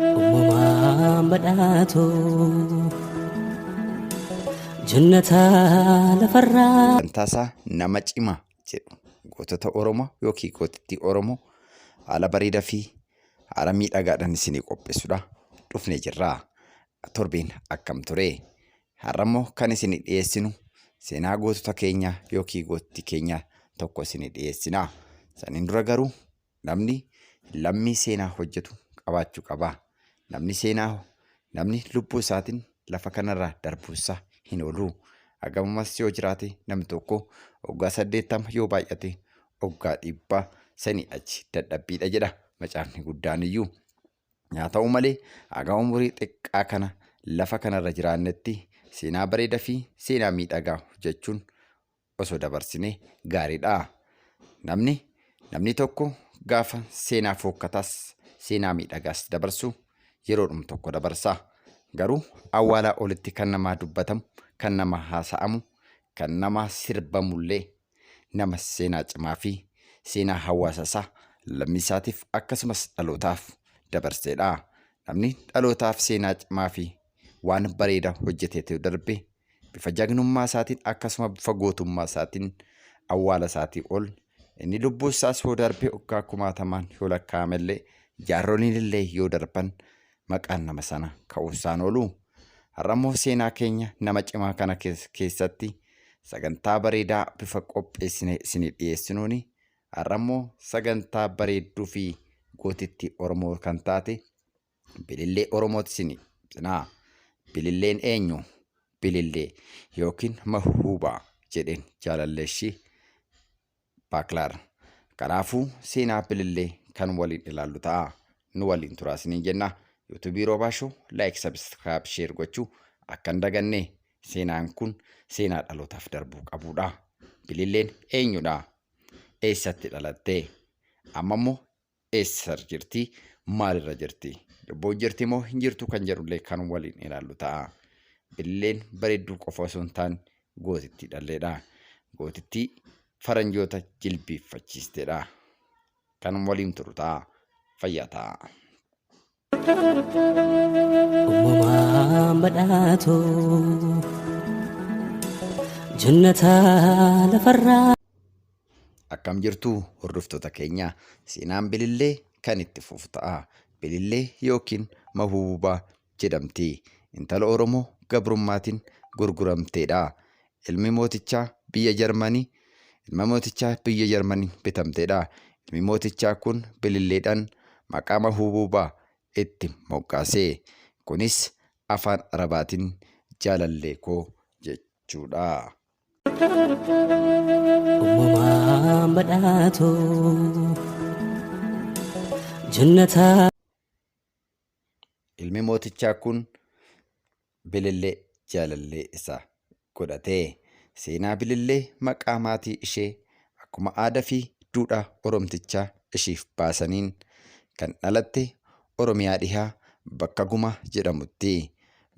Uumamaan badhaatu jannata lafarraa. Wantaasaa nama cimaa jedhu gootota Oromoo yookiin gootittii Oromoo haala bareedaa fi haala miidhagaadhaan isinii qopheessuudhaa dhufnee jirra. Torbeen akkam ture? Har'a immoo kan isinii dhiyeessinu seenaa gootota keenyaa yookiin gootittii keenyaa tokko isinii dhiyeessina. Saniin dura garuu Namni lammii seenaa hojjetu qabaachuu qaba. Namni seenaa namni lubbuu isaatiin lafa kanarraa darbuunsaa hin oolu. Hagamamas yoo jiraate namni tokko waggaa saddeettama yoo baay'ate waggaa dhibbaa sanii achi dadhabbiidha jedha macaafni guddaan iyyuu. Haa ta'u malee haga umurii xiqqaa kana lafa kanarra jiraannetti seenaa bareedaa fi seenaa miidhagaa hojjechuun osoo dabarsinee gaariidha. Namni namni tokko gaafa seenaa fookkataas seenaa miidhagaas dabarsu yeroodhum tokko dabarsa. Garuu awwaalaa olitti kan namaa dubbatamu, kan namaa haasa'amu, kan namaa sirbamullee nama seenaa cimaa fi seenaa hawaasa isaa lammii isaatiif akkasumas dhalootaaf dabarseedha. Namni dhalootaaf seenaa cimaa fi waan bareedaa hojjeteetu darbe bifa jagnummaa isaatiin akkasuma bifa gootummaa isaatiin awwaala isaatii ol inni lubbuu isaas yoo darbe waggaa kumaatamaan yoo lakkaa'ame illee jaarroliin illee yoo darban maqaan nama sana ka'uu isaan oolu. Har'a immoo seenaa keenya nama cimaa kana kees- keessatti sagantaa bareedaa bifa qopheessine isinii dhiyeessinuuni har'a immoo sagantaa bareedduu fi gootittii Oromoo kan taate Bilillee Oromooti sini sinaa. Bililleen eenyu? Bilillee yookiin mahuubaa jedheen jaalalleeshi Baaklaar. Kanaafuu seenaa bilillee kan waliin ilaallu ta'a. Nu waliin turaa siniin jenna. Yuutuubii Roobaa Shoo laayik sabiskiraayib sheer gochuu akka hin daganne seenaan kun seenaa dhalootaaf darbuu qabudha. Bililleen eenyudha? Eessatti dhalatte? Amma immoo eessa jirti maalirra jirti lubbuun jirti moo hin jirtu kan jedhullee kan waliin ilaallu ta'a billeen bareedduu qofa osoo hin taane gootittii dhalleedha gootittii faranjoota jilbiiffachiisteedha kan waliin turu ta'a fayyaa ta'a. Uumamaan badhaatu jannata lafarraa. Akkam jirtu hordoftoota keenya seenaan bilillee kan itti fufu ta'a. Bilillee yookiin mahuububaa jedhamti. Intala Oromoo gabrummaatiin gurguramteedha. Ilmi mootichaa biyya Jarmanii Ilma mootichaa biyya Jarmanii bitamteedha. Ilmi mootichaa kun bililleedhaan maqaa mahubuubaa itti moggaase. Kunis afaan Arabaatiin jaalallee koo jechuudha. Uumamaan badhaatu jannataa. Ilmi mootichaa kun Bilillee jaalallee isaa godhate. Seenaa Bilillee maqaa maatii ishee akkuma aadaa fi duudhaa Oromtichaa ishiif baasaniin kan dhalatte Oromiyaa Dhihaa bakka Gumaa jedhamutti.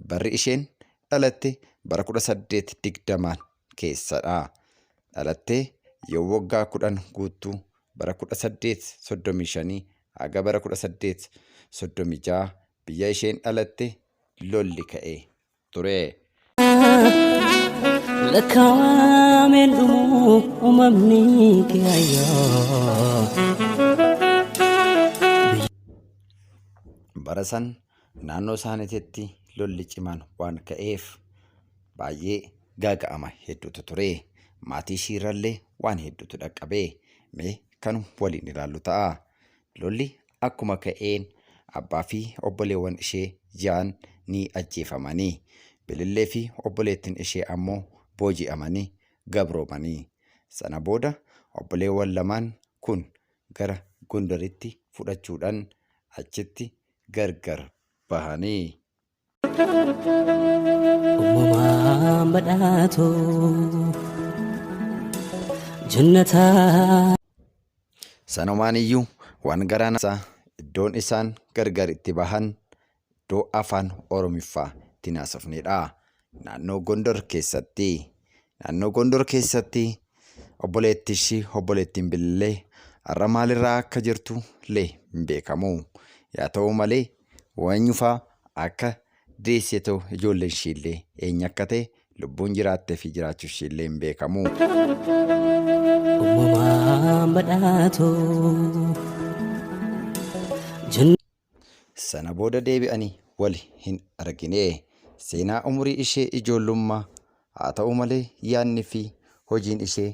Barri isheen dhalatte bara 1820n keessadha. Dhalattee yoo waggaa 10 guuttu bara 1835 haga bara 1836 Biyya isheen dhalatte lolli ka'ee ture. Lakkaawameen dhumuu uumamni kiyaayyoo. Bara san naannoo isaaniititti lolli cimaan waan ka'eef baay'ee gaaga'ama hedduutu ture. Maatii ishiirrallee waan hedduutu dhaqqabe. Mee kan waliin ilaallu ta'a. Lolli akkuma ka'een abbaa fi obboleewwan ishee ja'an ni ajjeefamanii, Bilillee fi obboleettiin ishee ammoo booji'amanii gabroomanii. Sana booda obboleewwan lamaan kun gara Gondaritti fudhachuudhaan achitti gargar bahanii. Uumamaan badhaatu jannataa. Sanumaan iyyuu waan garaa isaa iddoon isaan gargar itti bahan iddoo afaan Oromiffaa ittiin haasofnedha. Naannoo Gondor keessatti. Naannoo Gondor keessatti obboleetti ishii obboleettiin Bilillee har'a maalirraa akka jirtu illee hin beekamu. Yaa ta'u malee wanyufaa akka deessee ta'u ijoolleen ishiillee eenyu akka ta'e lubbuun jiraattee fi jiraachuu ishiillee hin beekamu. Uumamaan badhaatoo. Sana booda deebi'anii wal hin argine. Seenaa umurii ishee ijoollummaa haa ta'u malee yaadni fi hojiin ishee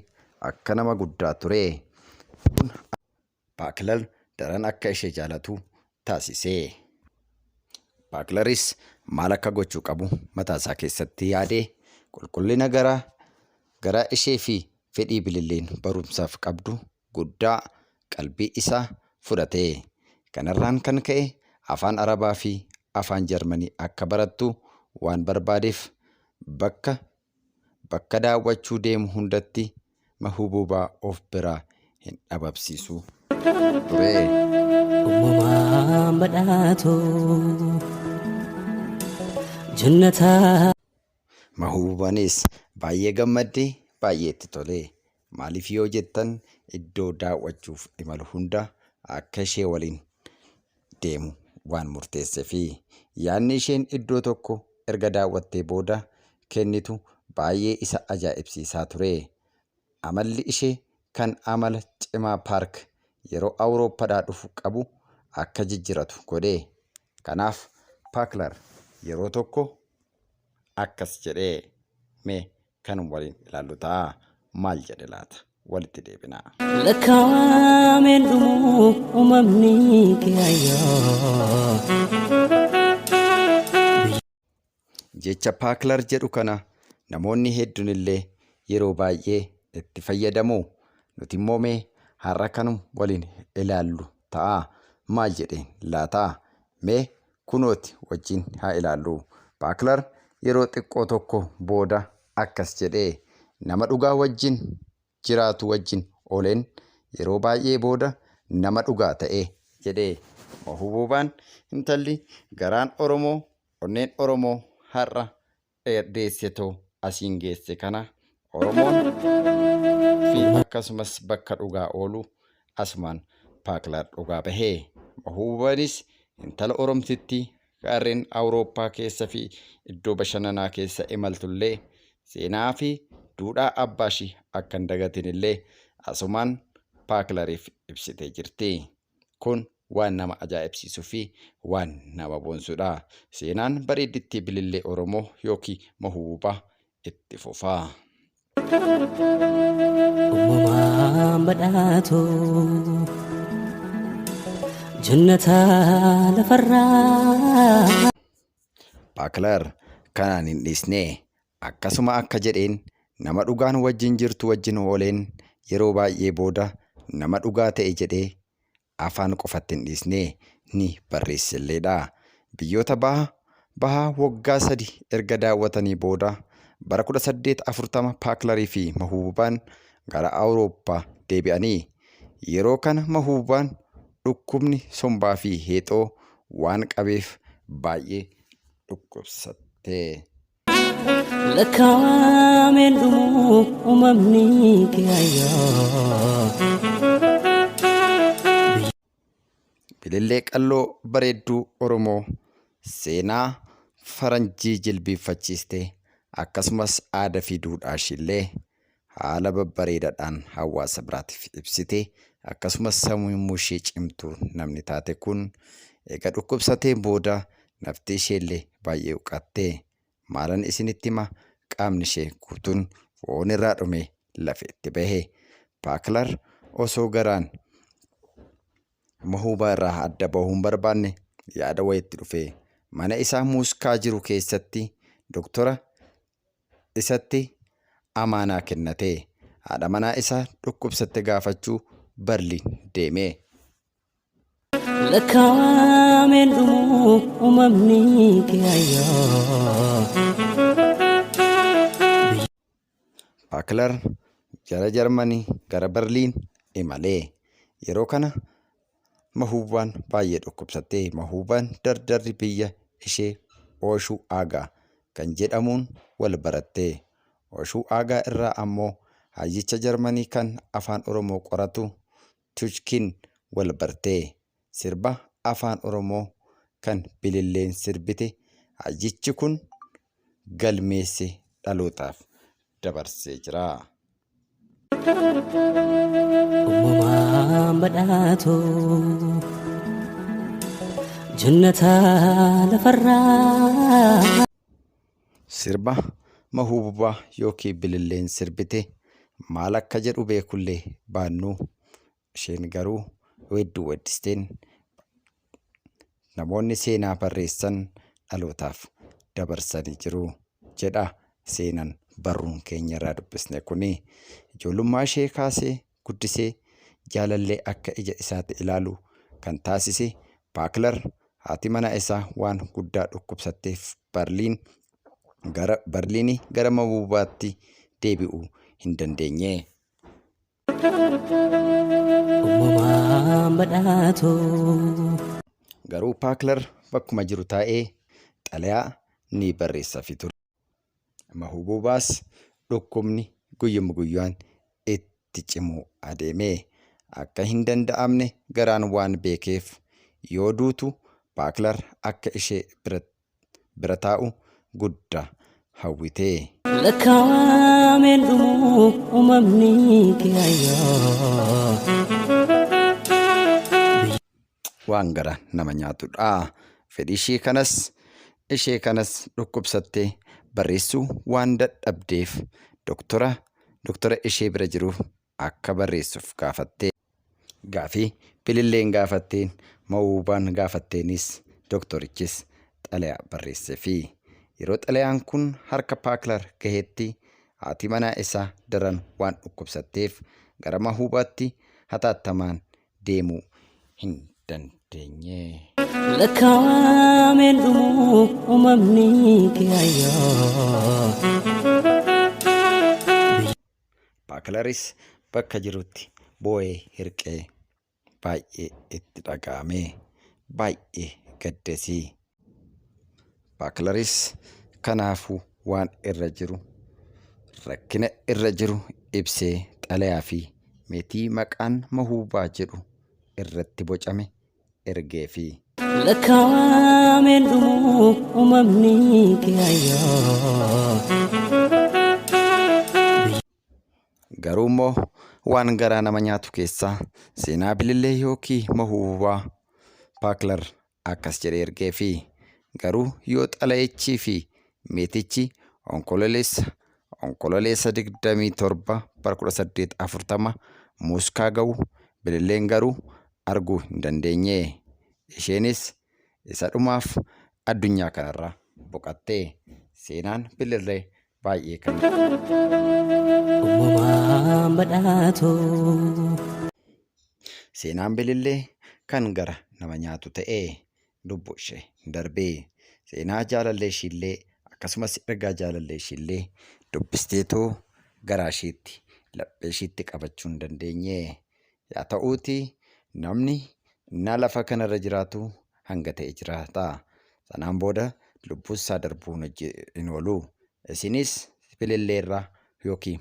akka nama guddaa ture. Baaklar daran akka ishee jaalatu taasise. Baaklaris maal akka gochuu qabu mataa isaa keessatti yaade. Qulqullina garaa garaa ishee fi fedhii Bililleen barumsaaf qabdu guddaa qalbii isaa fudhate. Kanarraan kan ka'e afaan Arabaa fi afaan Jarmanii akka barattu waan barbaadeef bakka Bakka daawwachuu deemu hundatti Mahubuubaa of biraa hin dhababsiisu turee. Uumamaan badhaatu jannataa. Mahubuubaniis baay'ee gammaddi, baay'ee itti tolee. Maaliif yoo jettan iddoo daawwachuuf imalu hunda akka ishee waliin deemu waan murteesseefi. Yaadni isheen iddoo tokko erga daawwattee booda kennitu baay'ee isa ajaa'ibsiisaa ture. Amalli ishee kan amala cimaa Paark yeroo Awurooppadhaa dhufu qabu akka jijjiratu godhe. Kanaaf Paaklar yeroo tokko akkas jedhe, Mee kan waliin ilaallu ta'a. Maal jedhe laata? Walitti deebina. Lakkaa'ameen dhumu uumamni kiyaayyoo. Jecha paaklar jedhu kana namoonni hedduun illee yeroo baay'ee itti fayyadamu. Nuti immoo mee har'a kanuma waliin ilaallu ta'a. Maal jedheen laata? Mee Kunooti wajjin haa ilaallu. Baaklar yeroo xiqqoo tokko booda akkas jedhe, Nama dhugaa wajjin jiraatu wajjin ooleen yeroo baay'ee booda nama dhugaa ta'e. jedhe. Mahubuubaan, intalli garaan Oromoo, onneen Oromoo har'a dheerdeessetu asiin geesse kana Oromoon fi akkasumas bakka dhugaa oolu asumaan Paaklar dhugaa bahe. Mahuubaanis intala Oromtittii gaarreen Awurooppaa keessa fi iddoo bashannanaa keessa imaltullee seenaa fi duudhaa abbaashii akka hin dagatinillee asumaan Paaklariif ibsitee jirti. Kun waan nama ajaa'ibsiisuu fi waan nama boonsudha. Seenaan bareeddittii bilillee Oromoo yookiin Mahubuubaa itti fufa. Uumamaan badhaatu jannata lafarraa. Baaklar kanaan hin dhiisne Akkasuma akka jedheen, Nama dhugaan wajjin jirtu wajjin ooleen yeroo baay'ee booda nama dhugaa ta'e jedhee afaan qofatti hin dhiisne, ni barreesselleedha. Biyyoota Baha Bahaa waggaa sadi erga daawwatanii booda bara 1840 Paaklarii fi Mahuububaan gara Awurooppaa deebi'ani. Yeroo kana Mahuububaan dhukkubni sombaa fi heexoo waan qabeef baay'ee dhukkubsatte. lakkaa'ameen dhumuu uumamni kiyaayyoo. Bilillee qalloo bareedduu Oromoo seenaa faranjii jilbiiffachiiste akkasumas aadaa fi duudhaa ishiillee haala babbareedadhaan hawaasa biraatiif ibsite akkasumas sammuu ishee cimtuu namni taate kun eega dhukkubsatee booda nafti isheellee baay'ee huqatte maalan isinitti hima qaamni ishee guutuun foon irraa dhumee lafeetti bahe paaklar osoo garaan mahuubaa irraa adda bahuu hin barbaanne yaada wayitti dhufee mana isaa muuskaa jiru keessatti doktora isatti amaanaa kennatee haadha manaa isaa dhukkubsatte gaafachuu Barliin deeme. Lakkaa'ameen dhumuu uumamni kiyaayyoo. Baaklar gara Jarmanii gara Barliin imalee yeroo kana Mahuubaan baay'ee dhukkubsatte. Mahuubaan dardarri biyya ishee Ooshuu Aagaa kan jedhamuun wal baratte. Ooshuu Aagaa irraa ammoo hayyicha Jarmanii kan Afaan Oromoo qoratu Tuchkin wal barte. Sirba Afaan Oromoo kan Bililleen sirbite hayyichi kun galmeesse dhalootaaf dabarsee jira. Uumamaan badhaatu jannata lafarraa. Sirba mahuububaa yookiin bililleen sirbite maal akka jedhu beekullee baannuu Isheen garuu weedduu weeddisteen namoonni seenaa barreessan dhalootaaf dabarsanii jiru jedha seenan barruun keenya irraa dubbisne kuni. Ijoollummaa ishee kaasee guddisee jaalallee akka ija isaatti ilaalu kan taasise Baaklar haati manaa isaa waan guddaa dhukkubsatteef Barliin gara Barliinii gara Mabuubaatti deebi'uu hin dandeenye. Uumamaan badhaatu. Garuu Paaklar bakkuma jiru taa'ee xalayaa ni barreessafi ture. Mahubuubaas dhukkubni guyyuma guyyaan itti cimuu adeeme. Akka hin danda'amne garaan waan beekeef yoo duutu Paaklar akka ishee biratti bira taa'u gudda hawwitee. Lakkaawameen dhumuu uumamni kiyaayoo. waan gara nama nyaatudha. Fedhii ishee kanas ishee kanas dhukkubsattee barreessuu waan dadhabdeef doktora doktora ishee bira jiruuf akka barreessuuf gaafatte. Gaafii Bililleen gaafatteen, Mawuubaan gaafatteenis doktorichis xalayaa barreesseefii. Yeroo xalayaan kun harka Paaklar gahetti haati manaa isaa daran waan dhukkubsatteef gara Mahuubaatti hataattamaan deemuu hin dandeenye. Lakkaawameen dhumuu uumamni kee ayyoo. Baakilaris bakka jirutti boo'ee hirqee baay'ee itti dhaga'amee baay'ee gaddesii. Baakilaris kanaafuu waan irra jiru rakkina irra jiru ibsee xalayaa fi meetii maqaan Mahuubaa jedhu irratti bocame ergeefi. Lakkaa'ameen dhumuu uumamni kiyaayyoo. Garuu immoo waan garaa nama nyaatu keessaa seenaa bilillee yookiin mahuubaa Paaklar akkas jedhee ergeefi. Garuu yoo xalayichii fi meetichi onkololeessa onkololeessa 27 bara 1840 Mooskaa ga'u bililleen garuu arguu hin dandeenye. Isheenis isa dhumaaf addunyaa kanarra boqatte. Seenaan Bilirree baay'ee kan Uumamaan badhaatu. Seenaan Bilillee kan gara nama nyaatu ta'e. Lubbu ishee darbe. Seenaa jaalallee ishiillee akkasumas ergaa jaalallee ishiillee dubbisteetu garaa ishiitti laphee ishiitti qabachuu hin dandeenye. Yaa ta'uutii namni innaa lafa kana irra jiraatu hanga ta'e jiraata. Sanaan booda lubbuun isaa darbuun hin oolu. Isinis fililleerra yookiin